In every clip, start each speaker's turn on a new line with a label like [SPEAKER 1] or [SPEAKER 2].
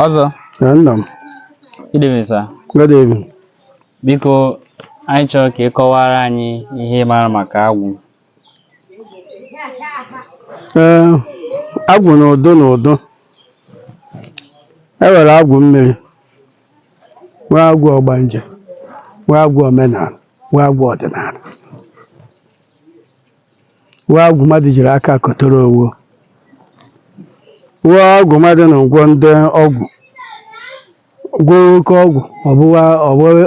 [SPEAKER 1] ọzọ nna
[SPEAKER 2] m good evening
[SPEAKER 1] sir good
[SPEAKER 2] evening
[SPEAKER 1] biko anyị chọrọ ka ị kọwara anyị ihe ị maara maka agwụ
[SPEAKER 2] ee agwụ na ụdụ na ụdụ e nwere agwụ mmiri nwee agwụ ọgbanje nwee agwụ omenala nwee agwụ ọdịnala nwee agwụ mmadụ jiri aka kọtara onwe nwee agwụ mmadụ na-agwọ ndị ọgwụ gwọ oke ọgwụ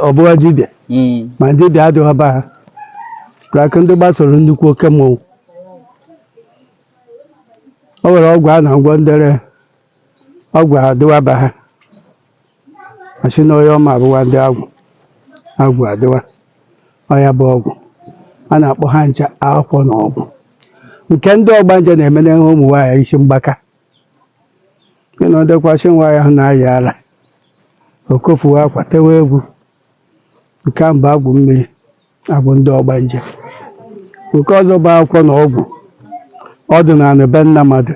[SPEAKER 2] ọ bụwa dibịa Mm. ma dibịa adịwa be ha aka ndị gbasoro nnukwu oke mmọnwụ o nwere ọgwụ a na-agwọ ndere ọgwụ adịwa be ha a sị na onye ọ ma abụwa ndị agwụ agwụ adịwa ọ ya bụ ọgwụ a na-akpọ ha ncha akwụkwọ na ọgwụ nke ndị ọgbanje na-eme na ụmụ nwaanyị isi mgbaka ị na ọ dịkwa sị nwaanyị ahụ na-ayị ala o kofuwa akwa tewe egwu nke ahụ bụ agwụ mmiri agwụ ndị ọgbanje nke ọzọ bụ akwụkwọ na ọgwụ ọdịnala be nna mmadụ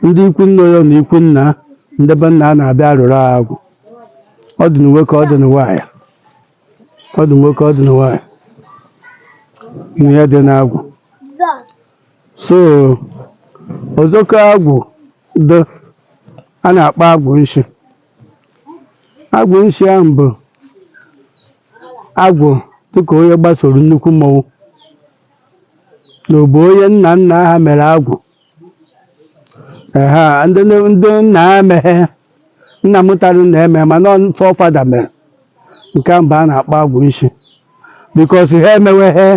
[SPEAKER 2] ndị ikwu nne ya na ikwu nna ndị be nna a na-abịa arụrụ ha agwụ ọ dị na nwoke ọ dị na nwaanyị ọ dị na nwoke ọ dị na nwaanyị ihe dị n'agwụ so ọzọkọ agwụ dị a na-akpọ agwụ nshi agwụ nshi ahụ bụ agwụ dịka onye gbasoro nnukwu mmọnwụ na ọ bụ onye nna nna ha mere agwụ ehe ndị nne- ndị nna ha emeghe nna mụtara nna eme mana ọ forefather mere nke ahụ bụ a na-akpọ agwụ nshi because ha emeweghe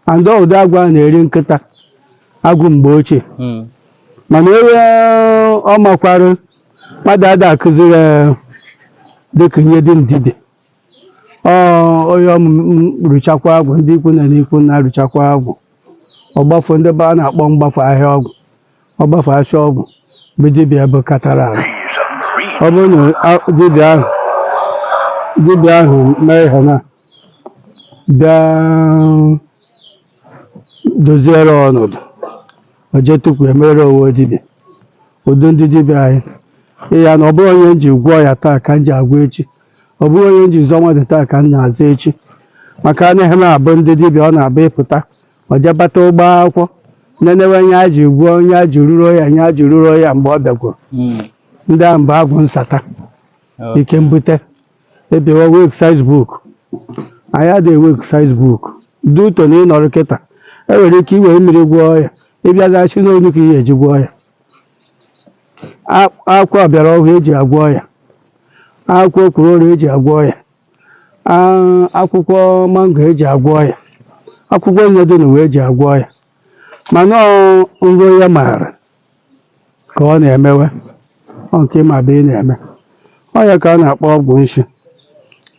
[SPEAKER 2] and ọ ụdị agwụ a na-eri nkịta agwụ mgbe ochie Mm. mana ebe ọ makwara mmadụ ada akụziri ya dịka ihe dị na dibịa onye rụchakwa agwụ ndị ikwu nne na ikwu nna rụchakwa agwụ ọgbafọ ndị be a na-akpọ mgbafọ ahịa ọgwụ ọgbafọ afịa ọgwụ bụ dibịa bụ katara ahụ ọ bụrụ na dibịa ahụ mee ihe na bịa doziere ọnọdụ o jee tupu e mere onwe dibịa ụdị ndị dibịa anyị ịya na ọ bụrụ onye m ji gwọọ ya taa ka m ji agwọ echi ọ bụrụ onye m ji zọọ mmadụ taa ka m na-azọ echi maka anaghị na-abụ ndị dibịa ọ na-abụ ịpụta ọ jebata ụgbọ akwụkwọ nenewe ihe a ji gwọọ ihe a ji ruro ya ihe a ji ruro ya mgbe ọ bịagwuru Mm. ndị ahụ bụ agwụ nsata Okay. ike mbute ebewa exercise book anyị adịghị exercise book dị ụtọ na ị nọrọ kịta e nwere ike iwere mmiri gwọọ ya ịbịazaghachi n'onu ka ihe eji gwọọ ya A- akwụkwọ ọbịara ọhụụ eji agwọ ya akwụkwọ okwuru oru eji agwọ ya Ah, akwụkwọ mango eji agwọ ya akwụkwọ niile dị n'ụwa eji agwọ ya mana ọ nro ya maara ka ọ na-emewe ọ nke ma bụ ị na-eme ọ ya ka a na-akpọ ọgwụ nshi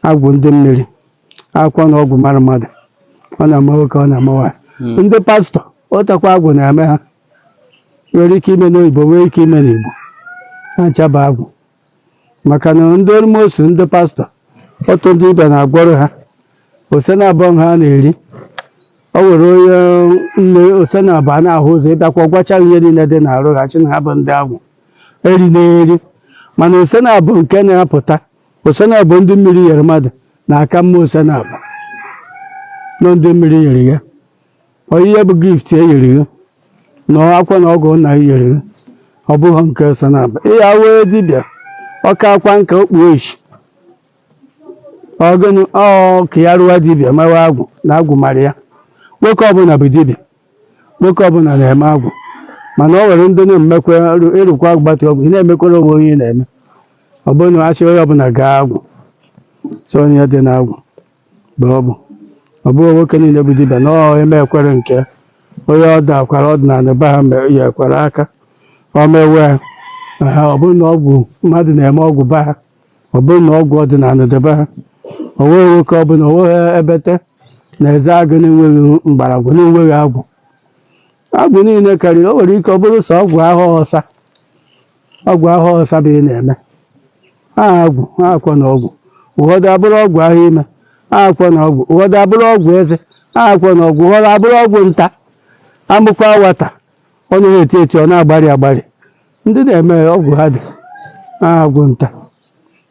[SPEAKER 2] agwụ ndị mmiri akwụkwọ na ọgwụ mara mmadụ ọ na-ama nwoke ọ na-ama nwaanyị. Mm. ndị pastọ ọtakwa agwụ na-eme ha nwere ike ime n'oyibo nwee ike ime n'Igbo ha ncha bụ agwụ maka na ndị almost ndị pastọ otu ndị dibịa na-agwọrọ ha ose naabọ ha na-eri o nwere onye nwe ose naabọ na-ahụ ụzọ ị bịakwa gwacha ihe niile dị n'arụ ha chi na ha bụ ndị agwụ eri na-eri mana ose naabọ nke na-apụta ose naabọ ndị mmiri yere mmadụ na-aka mma ose naabọ nọ ndị mmiri yere ya Onyinye bụ gift e nyere gị na akwụkwọ na ọgwụ nna gị nyere gị ọ bụghị nke ose naabọ ịya wee dibịa ọka akwa nka okpu echi ọgịnị ọ ka ya rụwa dibịa mewe agwụ na agwụ mara ya nwoke ọbụla bụ dibịa nwoke ọbụla na-eme agwụ mana ọ nwere ndị na-emekwa arụ- ịrụkwa agbata ọgwụ ị na-emekwara onwe onye ị na-eme ọ bụrụ na achị onye ọbụla gaa agwụ sọ onye dị na agwụ mgbe ọ bụ ọ bụghị nwoke niile bụ dibịa na ọ eme ekwere nke onye ọ dakwara ọdịnala be ha mere ya ekwere aka ọ mewe ya Aha, ọ bụrụ na ọgwụ mmadụ na-eme ọgwụ be ha ọ bụrụ na ọgwụ ọdịnala dị be ha o nweghị nwoke ọbụla o nweghị ebete na Ezeagụ na-enweghị mgbọrọgwụ na-enweghị agwụ agwụ niile karịrị o nwere ike ọ bụrụ sọ ọgwụ ahọ ọsa ọgwụ ahọ ọsa bụ ị na-eme aha agwụ ha akwụkwọ na ọgwụ ụfọdụ abụrụ ọgwụ ahọ ime ha akwụkwọ na ọgwụ ụfọdụ abụrụ ọgwụ eze ha akwụkwọ na ọgwụ ụfọdụ abụrụ ọgwụ nta a mụkwa nwata ọ naghị eti eti ọ na-agbarị agbarị ndị na-eme ọgwụ ha dị ha agwụ nta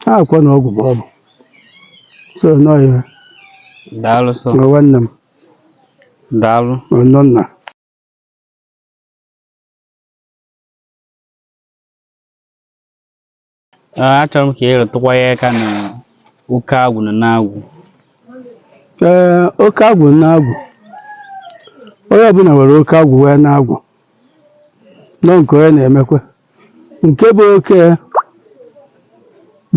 [SPEAKER 2] ha akwụkwọ na ọgwụ bụ ọgwụ so nọ ihe daalụ
[SPEAKER 1] sọ nwa nwanne m daalụ ọnọ nna Ah, achọrọ m ka ị rụtụkwa ya aka na oke agwụ na nne agwụ ee
[SPEAKER 2] oke agwụ nne agwụ onye ọbụla nwere oke agwụ nwee nne agwụ nọ nke onye na-emekwa nke bụ oke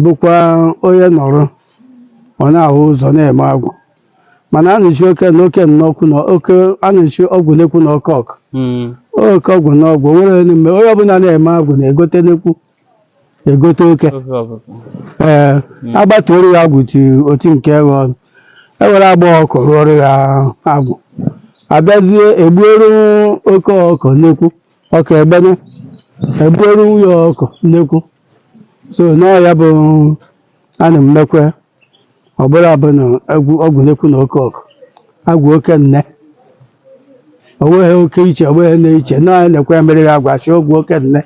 [SPEAKER 2] bụkwa onye nọrọ ọ na-ahụ ụzọ na-eme agwụ mana a na-asị oke na oke nnekwu na oke a na-asị ọgwụ nnekwu na oke ọkụ Mm. oke ọgwụ na ọgwụ nwere n'ime onye ọbụla na-eme agwụ na-egote nnekwu egote oke Oke ọkụ. ee agbatuoro ya agwụ ti oti nke eghe ọnụ ewere agba ọkụ rụọrọ ya agwụ abịazie egbuoro oke ọkụ nnekwu ọka egbene egbuoro nwunye ọkụ nnekwu so n'ọ ya bụ a na-emekwe ọ bụrụ abụ na ọgwụ nnekwu na oke ọkụ agwụ oke nne o nweghị oke iche o nweghị na-iche na anyị na-ekwe ya mere ya agwa chi ọgwụ oke nne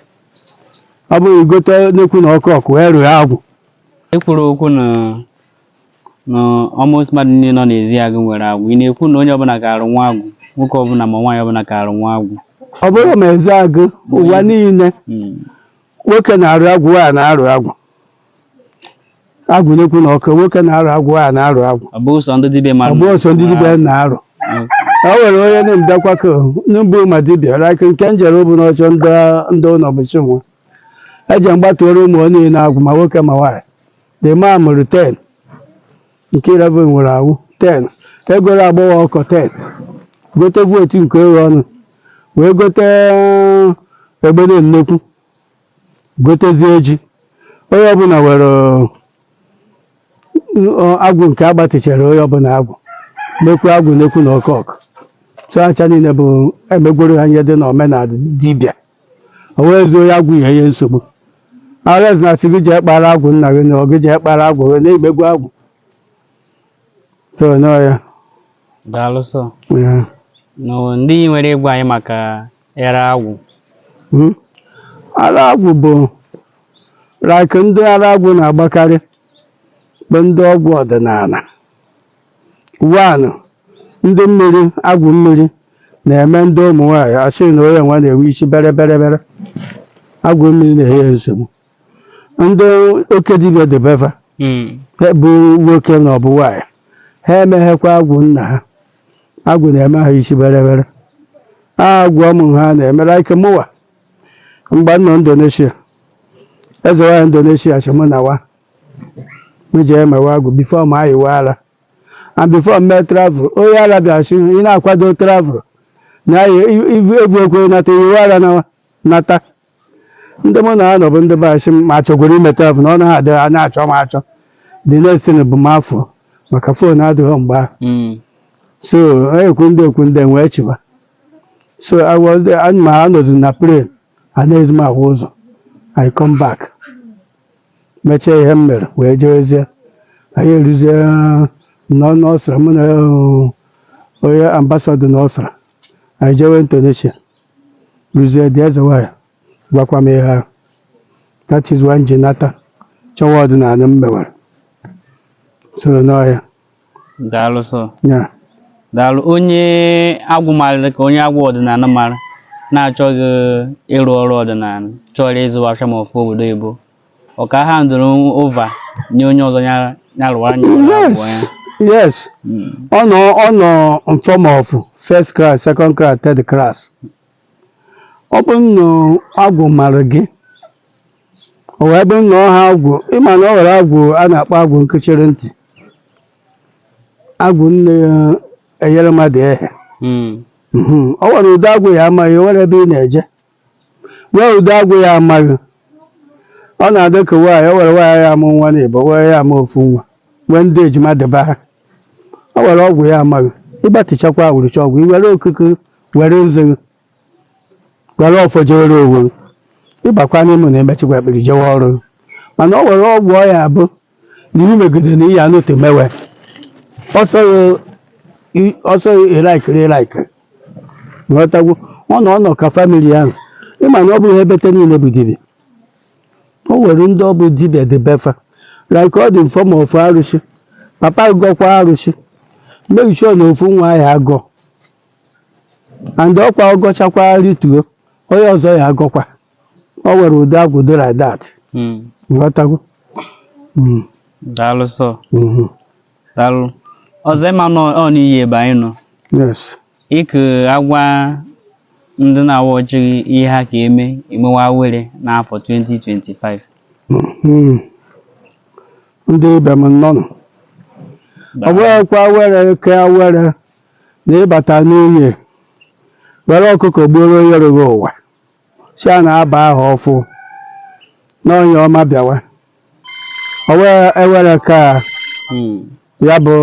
[SPEAKER 2] ọ bụrụ i gote nnekwu na oke ọkụ wee rụọ agwụ e kwuru
[SPEAKER 1] okwu na na almost mmadụ niile nọ n'Ezeagụ nwere agwụ ị na-ekwu na onye ọbụla ga-arụ nwa agwụ nwoke ọbụla ma nwaanyị ọbụla ga-arụ nwa agwụ ọ bụrụ ma
[SPEAKER 2] Ezeagụ ụwa niile Mm. nwoke na-arụ agwụ nwaanyị na-arụ agwụ agwụ nnekwu na ọkụ nwoke na-arụ agwụ nwaanyị na-arụ agwụ ọ bụghị sọ ndị dibịa
[SPEAKER 1] mara agwụ ọ sọ ndị
[SPEAKER 2] dibịa na-arụ o nwere onye na-emdakwa ka n'ụbụ ma dibịa like nke m jere ụbụ n'ọchọ ndị ndị ụlọ bụ chinwa eji mgbatuoro ụmụ ya niile agwụ ma nwoke ma nwaanyị the man mụrụ 10 nke 11 nwere ewu 10 egoro agbọghọ ọkụ 10 gote vootu nke oghe ọnụ wee gote egbene nnekwu gotezie ji onye ọbụla were agwụ nke agbatichere onye ọbụla agwụ mekwu agwụ nnekwu na oke ọkụ so acha niile bụ emegworo ha ihe dị na omenala dibịa o wee zuo onye agwụ ihe ihe nsogbu arise na asị gị jee kpara agwụ nna gị na ọ gị jee kpara agwụ wee na-emegwu agwụ so n'ọ ya daalụ
[SPEAKER 1] sọ ya na ndị nwere ịgwa anyị maka Ara agwụ. Hmm.
[SPEAKER 2] Ara agwụ bụ like ndị ara agwụ na-agbakarị bụ ndị ọgwụ ọdịnala. One, ndị mmiri agwụ mmiri na-eme ndị ụmụ nwaanyị asị na onye nwa na-enwe isi bere bere bere agwụ mmiri na-enye ya nsogbu ndị oke dibịa debeva Hmm. bụ nwoke na ọ bụ nwaanyị ha emeghekwa agwụ nna ha agwụ na-eme ha isi bere bere agwụ ụmụ ha na-eme like mụwa mgbe m nọ Indonesia eze nwaanyị Indonesia sị mụ na wa m jee mewe agwụ before m ayịwa ara and before m mee travel onye ara bịara sị ị na-akwado travel na evu ekwe nata ị yịwa ara na nata ndị mụ na ha nọ bụ ndị be anyị sị m ma chọgoro ime travel na ọ naghị adịghị a na-achọ m achọ the next thing bụ m afọ maka fon adịghị mgbe ahụ Mm. so ekwu ndị ekwu ndị wee chịba so I was there, anyị ma ha nọzi na plane anaghịzi m ahụ ụzọ I come back mechaa ihe m mere wee jewezie anyị eruzie nọ n'ọsra mụ na eh, onye ambasadọ n'ọsra anyị jewe Indonesia ruzie dị eze nwanyị gwakwa m ihe ahụ that is why m ji nata chọwa ọdịnala m mewere so n'ọhịa
[SPEAKER 1] daalụ sọ ya daalụ onye agwụ mara ka onye agwụ ọdịnala mara na-achọghị ịrụ ọrụ ọdịnala chọrọ ịzụ afịa ma ọfụ obodo oyibo ọ ka a-handle over nye onye ọzọ ya ya rụwa anya ụlọ yes
[SPEAKER 2] abụọ ya yes Mm. ọ nọ ọ nọ in form of first class second class third class ọ bụ nnụ agwụ mara gị o wee bụ nnọọ ha agwụ ịma na o nwere agwụ a na-akpọ agwụ nkechiri ntị agwụ na-enyere mmadụ ehe Mm. Mhm. ọ nwere ụdị agwụ ya ama gị o nwere ebe ị na-eje Nwee ụdị agwụ ya ama gị. Ọ na-adị ka nwaanyị, o were nwaanyị ya amụ nwa naabọ, were ya amụ ofu nwa, wee ndị ejima debe ha. O were agwụ ya ama gị. Ị gbatichakwa awụrụcha ọgwụ, i were okuku, were nzu, were ọfọ jewere onwe. Ị bakwa n'ime na emechikwa ekpiri jewe ọrụ. Mana o were ọgwụ ọ ya abụ na ihe megide na ihe anụte mewe ọsọ ịlaikiri ịlaikiri ghọtagwo ọ nọ ọ nọ ka famili ahụ ịma na ọ bụghị bete niile bụ dibịa o nwere ndị ọ bụ dibịa dị be fa like ọ dị in form of arụsị papa gọkwa arụsị make sure na ofu nwa ya agọ and ọkwa ọ gọchakwa rituo onye ọzọ ya agọkwa ọ nwere ụdị agwụ dị like that Mm. nghọtago
[SPEAKER 1] Mm, daalụ sọ mhm, daalụ ọzọ ịma nọ ọ n'iyi ebe anyị nọ yes
[SPEAKER 2] ị
[SPEAKER 1] ka agwa ndị na-awa ọchị ihe ha ka eme emewa were n'afọ 2025
[SPEAKER 2] Mhm. ndị ibe m nnọọnụ ọ bụghịkwa were ke were na ịbata n'ihe were ọkụkọ gbuoro onye yọrọ gị ụwa si a na-aba aha ọfụ n'onye ọma bịawa o wee ewere ka Hmm. ya bụ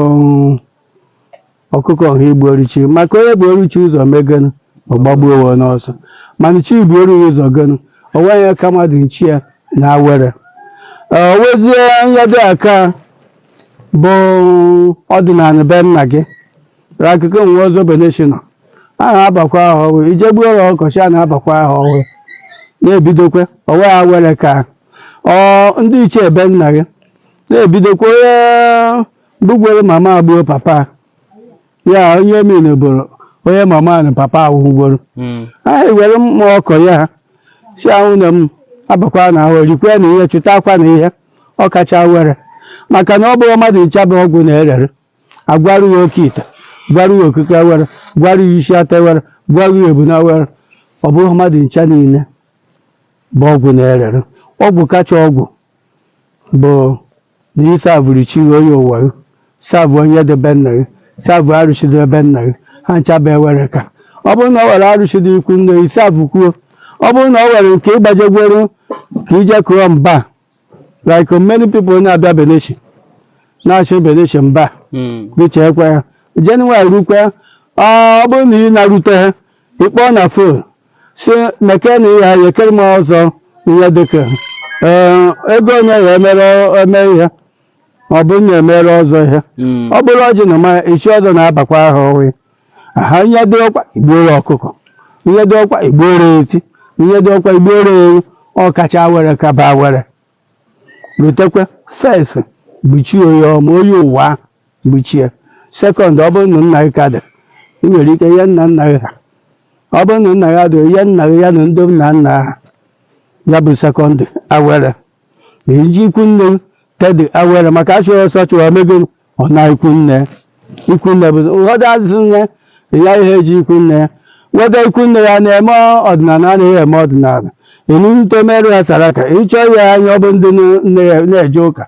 [SPEAKER 2] ọkụkọ a igbuoro chi maka onye buru chi ụzọ megonu ọ gbagbuo onwe n'ọsọ mana chi buru ụzọ gonu o nweghị ka mmadụ na chi ya na awere Ee, o wezie ihe dị aka bụ ọdịnala be nna gị akụkọ nwe ọzọ beneshina a na-abakwa ahọ ọhụrụ i je gbuo ọrụ ọkọchị a na-abakwa ahọ ọhụrụ na-ebidokwa ọwa ya were ka ọ ndị ichie be nna gị na-ebidokwa onye bụgwere mama agbuo papa ya onye min bụrụ onye mama na papa awụgworo Mm. aha iwere mma ọkọ ya si ahụ na m abakwa na ahụ rikwe na ihe chụtakwa na ihe ọ kacha awere maka na ọ bụghị mmadụ ncha bụ ọgwụ na-erere agwaru ya oke ite gwaru ya okike awere gwaru ya isi atụ awere gwaru ya ebuna awere ọ bụghị mmadụ ncha niile bụ ọgwụ na-erere ọgwụ kacha ọgwụ bụ na ịsavụrụ chi gị onye ụwa gị savụ onye dị be nna gị savụ arụsị dị be nna gị ha ncha bụ awere ka ọ bụrụ na ọ were arụsị dị ikwu nne gị savụ kwuo ọ bụrụ na ọ were nke ịgbajegworo ka i je kụọ mba like many people na-abịa beneshi na-achọ beneshi mba Mm. bicha ekwe ha January rukwe ọ bụrụ na ị na-arute ha ị kpọọ na phone sị meke na ihe anyị ekere m ọzọ ihe dịka ee, ego onye ya emere eme ihe ọ bụrụ na e mere ọzọ ihe Mm. ọ bụrụ ọjị na mmanya isi ọzọ na-abakwa ahọ ọhụrụ aha ihe dị ọkwa igbuoro ọkụkọ ihe dị ọkwa igbuoro efi ihe dị ọkwa igbuoro ewu ọ kacha awere kaba awere rutekwe first bụ chi gị onye ụwa onye ụwa ahụ bụ chi gị second ọ bụrụ na nna gị ka dị ị nwere ike ihe nna nna gị ha ọ bụrụ na nna ya dị ihe nna gị ya na ndị nna nna ha ya bụ second awere Ihe iji ikwu nne gị third awere maka achụghị ọsọ chụwa omego ọ naa ikwu nne ikwu nne bụ ụfọdụ azụ nne ya ihe eji ikwu nne ya weta ikwu nne ya na-eme ọdịnala anaghị eme ọdịnala i rute meere ya saraka ịchọ ya anya ọ bụ ndị nne ya na-eje ụka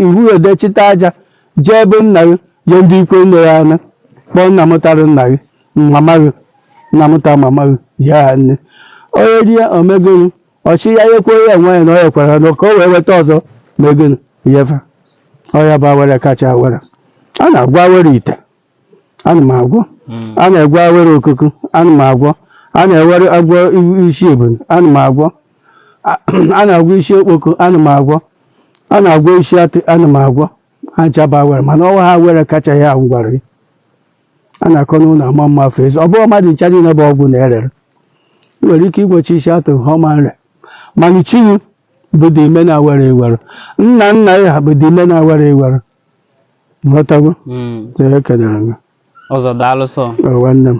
[SPEAKER 2] iwu edechita aja jee be nna gị jee ndị ikwu nne ya anya kpọọ nna mụtara nna gị mama gị nna mụta mama gị ya nne onye rie omego gị ọ sị ya nyekwuo ya enwe ya na ọ ya ekwere ha na ka o wee weta ọzọ na ego nyefa ọ ya bụ awere kacha awere a na-agwọ awere ite ana m agwọ a na-agwọ awere okuku ana m agwọ a na-ewere agwọ i- isi ebunu ana m agwọ A- a na-agwọ isi okpoko ana m agwọ a na-agwọ isi atụ ana m agwọ ha ncha bụ awere mana ọwa ha awere kacha ya m gwara a na-akọ n'ụlọ ama mma afọ ezi ọ bụghị mmadụ ncha niile bụ ọgwụ na-erere ị nwere ike ịgwọcha isi atụ ha ọ ma nre mana chi gị bụ the main awere i were nna nna gị ha bụ the main awere i were ị ghọtago Mm. Ee, ekelere
[SPEAKER 1] m gị.
[SPEAKER 2] ọzọ daalụ sọ Ee, nwanne m